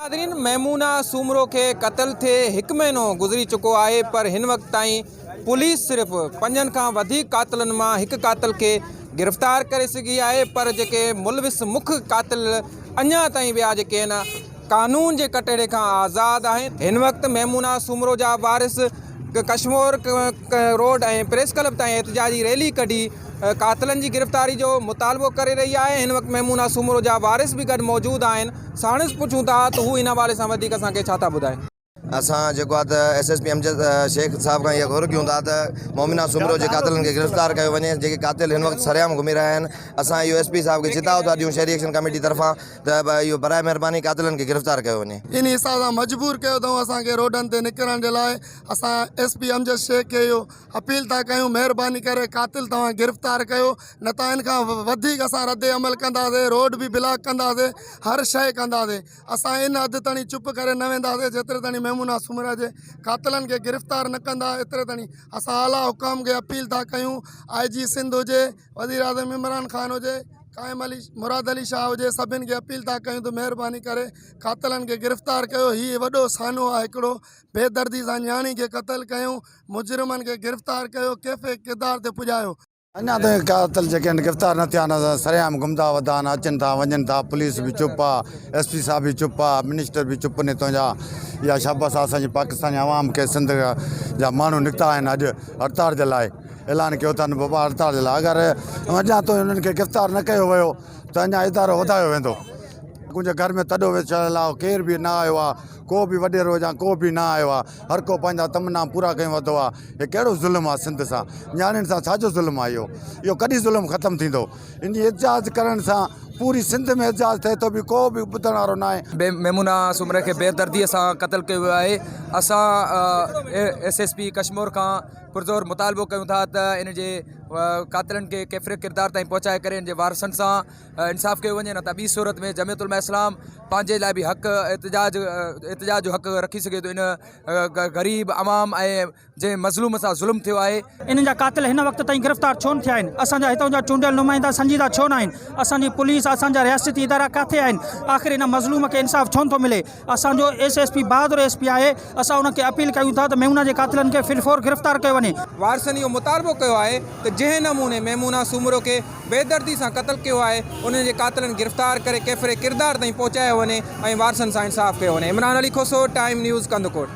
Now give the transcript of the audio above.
ناظرين ميمونه سومرو کي قتل ٿئي هڪ مهينو گذري چڪو آهي پر هن وقت تائين پوليس صرف پنجن کان وڌيڪ قاتلن مان هڪ قاتل کي گرفتار ڪري سگهي آهي پر جيڪي ملوث مک قاتل اڃان تائين ٻيا جيڪي آهن قانون جي ڪٽهڙي کان آزاد آهن. هن وقت ميمونه سومرو جا وارث ڪشمور روڊ ۽ پريس ڪلب تائين احتجاجي ريلي ڪڍي قاتلن جي گرفتاري جو مطالبو ڪري رهي آهي، هن وقت ميمونه سومرو جا وارث به گڏ موجود آهن، ساڻس پڇون ٿا ته هو ان حوالي سان وڌيڪ اسان کي ڇا ٿا ٻڌائين. اسان جيڪو آهي ته S S P Amjad Shaikh صاحب کان اها گهر ڪيون ٿا ته مومنا سومرو جي قاتلن کي گرفتار ڪيو وڃي جيڪي قاتل هن وقت سرعام گهمي رهيا آهن اسان اهو ايس پي صاحب کي چتاء ٿا ڏيون شهري ايڪشن ڪميٽي طرفان ته اهو براء مهرباني قاتلن کي گرفتار ڪيو وڃي. انهي حساب سان مجبور ڪيو اٿئون اسان کي روڊن تي نڪرڻ جي لاء اسان ايس پي امجد شيخ کي اهو اپيل ٿا ڪيون مهرباني ڪري قاتل توهان گرفتار ڪيو نه ته ان کان وڌيڪ اسان رد عمل ڪنداسين روڊ به بلاڪ ڪنداسين هر شيء ڪنداسين. اسان ان حد تائين چپ ڪري نه وينداسين جيتري تائين ميمونه سومرا جي قاتلن کي گرفتار نه ڪندا ايتري تائين اسان اعليٰ حڪام کي اپيل ٿا ڪيون آء جي سنڌ هجي وزيراعظم عمران خان هجي قائم علي مراد علي شاهه هجي سڀن کي اپيل ٿا ڪيون ته مهرباني ڪري قاتلن کي گرفتار ڪيو هي وڏو سانحو آهي هڪڙو بي دردي سان نياڻي کي قتل ڪيون مجرمن کي گرفتار ڪيو ڪيفي ڪردار تي پڄايو اڃا تائين قاتل جيڪي آهن گرفتار نه ٿيا آهن سرعام گهمندا ودا آهن اچن ٿا وڃن ٿا پوليس به چپ آ ايس پي صاحب به چپ آ منسٽر به چپ ني تنهنجا اها شابس آ اسان جي پاڪستاني عوام کي سنڌ جا ماڻهو نڪتا آهن اڄ هڙتال جي لاء اعلان ڪيو اٿن بابا هڙتال جي لاء اگر اڃا تائين انهن کي گرفتار نه ڪيو ويو ته اڃا ادارو وڌايو ويندو ڪنهنجي گهر ۾ تڏو ويڇايل آ ڪير به نه آيو آ ڪو به وڏيرو جا ڪو به نه آيو آ. هر ڪو پنهنجا تمنا پورا ڪيون وڌو آ هي ڪهڙو ظلم آ سنڌ سان نياڻين سان ڇا جو ظلم آ اهو اهو ڪڏهن ظلم ختم ٿيندو ان جي احتجاج ڪرڻ سان پوري سنڌ ۾ احتجاج ٿئي ٿو به ڪو به ٻڌڻ وارو ناهي. ميمونه سومري کي بيدردي سان قتل ڪيو ويو آهي اسان ايس ايس پي ڪشمور کان پرزور مطالبو ڪيون ٿا ته ان جي قاتلن کي ڪيفر ڪردار تائين پهچائي ڪري ان جي وارثن سان انصاف ڪيو وڃي نه ته ٻي صورت ۾ جمعيت علماء اسلام پنهنجي لاء به حق احتجاج احتجاج جو حق رکي سگهي ٿو ان غريب عوام ۽ جنهن مظلوم سان ظلم ٿيو آهي انهن جا قاتل هن وقت تائين گرفتار ڇو نه ٿيا آهن اسان جا هتان جا چونڊيل نمائندا سنجيده ڇو نه آهن اسان جي پوليس اسان جا رياستي ادارا ڪاٿي آهن آخر ان مظلوم کي انصاف ڇو نه ٿو ملي. اسان جو ايس ايس پي بهادر ايس پي آهي، اسان ان کي اپيل ڪيون ٿا ته ميمونه جي قاتلن کي في الفور گرفتار ڪيو وڃي. وارثن اهو مطالبو ڪيو آهي ته جنهن نموني ميمونه سومرو کي بي دردي سان قتل ڪيو آهي انهن جي قاتلن گرفتار ڪري ڪيفر ڪردار تائين پهچايو وڃي ۽ وارثن سان انصاف ڪيو وڃي. Imran Ali Khoso, time news, Kandhkot.